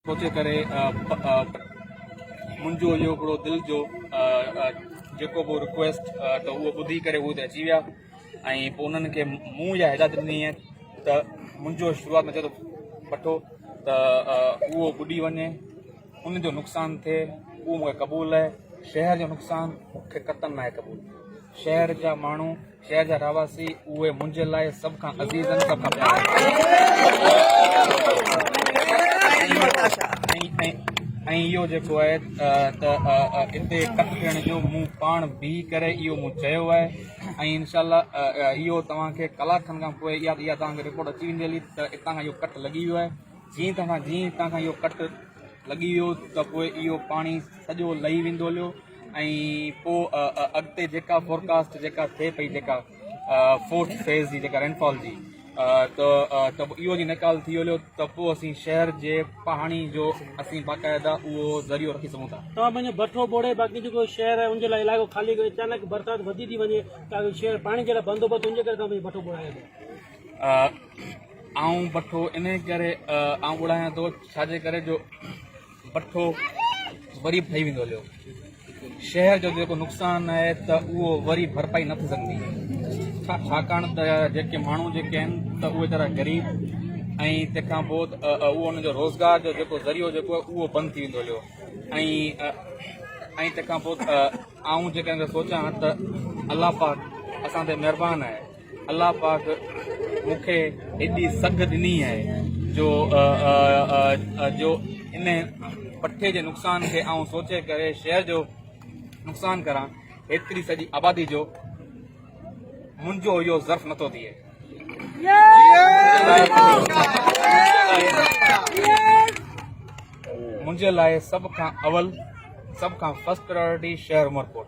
پهچي ڪري منهنجو اهو هڪڙو دل جو جيڪو به رڪويسٽ ته اهو ٻڌي ڪري هو ته اچي ويا ۽ پوء انهن کي مون يا هدايت ڏني آهي ته منهنجو شروعات ۾ چئي ٿو پٺو ته اهو ٻڏي وڃي ان جو نقصان ٿئي اهو مون کي قبول آهي شهر جو نقصان مون کي قطعا ناهي قبول شهر جا ماڻهو شهر جا رهواسي اهي منهنجي لاء سڀ کان عزيز ۽ سڀ کان پيارا آهن ۽ اهو جيڪو آهي ته اتي ڪپ ڏيڻ جو مون پاڻ بيهي ڪري اهو مون چيو آهي ۽ انشاء الله اهو توهان کي ڪلاڪ کن کان پوء اها اها توهان کي رپورٽ اچي ويندي هلي ته اتان کان اهو ڪٽ لڳي ويو آهي جيئن توهان جيئن هتان کان اهو ڪٽ لڳي ويو ته پوء اهو پاڻي سڄو لهي ويندو هليو ۽ پوء اڳتي جيڪا فورڪاسٽ جيڪا ٿئي پئي جيڪا فورٿ فيز جي جيڪا رينفال جي ته ته اهو جي نيڪال ٿي هليو ته پوء اسين شهر جي پاڻي جو اسين باقاعده اهو ذريعو رکي سگهون ٿا توهان پنهنجو بٺو ٻوڙي باقي جيڪو شهر آهي ان جي لاء علائقو خالي ڪيو اچانڪ برسات وڌي ٿي وڃي ته شهر پاڻي جي لاء بندوبست ان جي ڪري توهان پنهنجو بٺو ٻوڙايو ٿا آئون بٺو انهي ڪري آئون ٻوڙايان ٿو ڇاجي ڪري جو پٺو وري به ٺهي ويندو هليو. شهر جو جيڪو نقصان آهي ته اهو وري ڀرپائي نه ٿي سگهندي ڇاڪاڻ ته جيڪي ماڻهو جيڪي آهن ته اهي ويچارا غريب ۽ تنهن کان پوء اهو ان جو روزگار جو جيڪو ذريعو جيڪو آهي اهو بند ٿي ويندو هليو ۽ تنهن کان پوء آئون جيڪڏهن سوچان ته الله پاڪ اسان تي مهربان آهي الله پاڪ مون کي ايڏي سگهه ڏني آهي جو جو ان پٺي جي نقصان کي آئون سوچي ڪري شهر جو نقصان ڪران ايتري سڄي آبادي جو منهنجو اهو ظرف نٿو ٿئي منهنجي لاء سڀ کان اول سڀ کان فرسٽ پريورٽي شهر عمرڪوٽ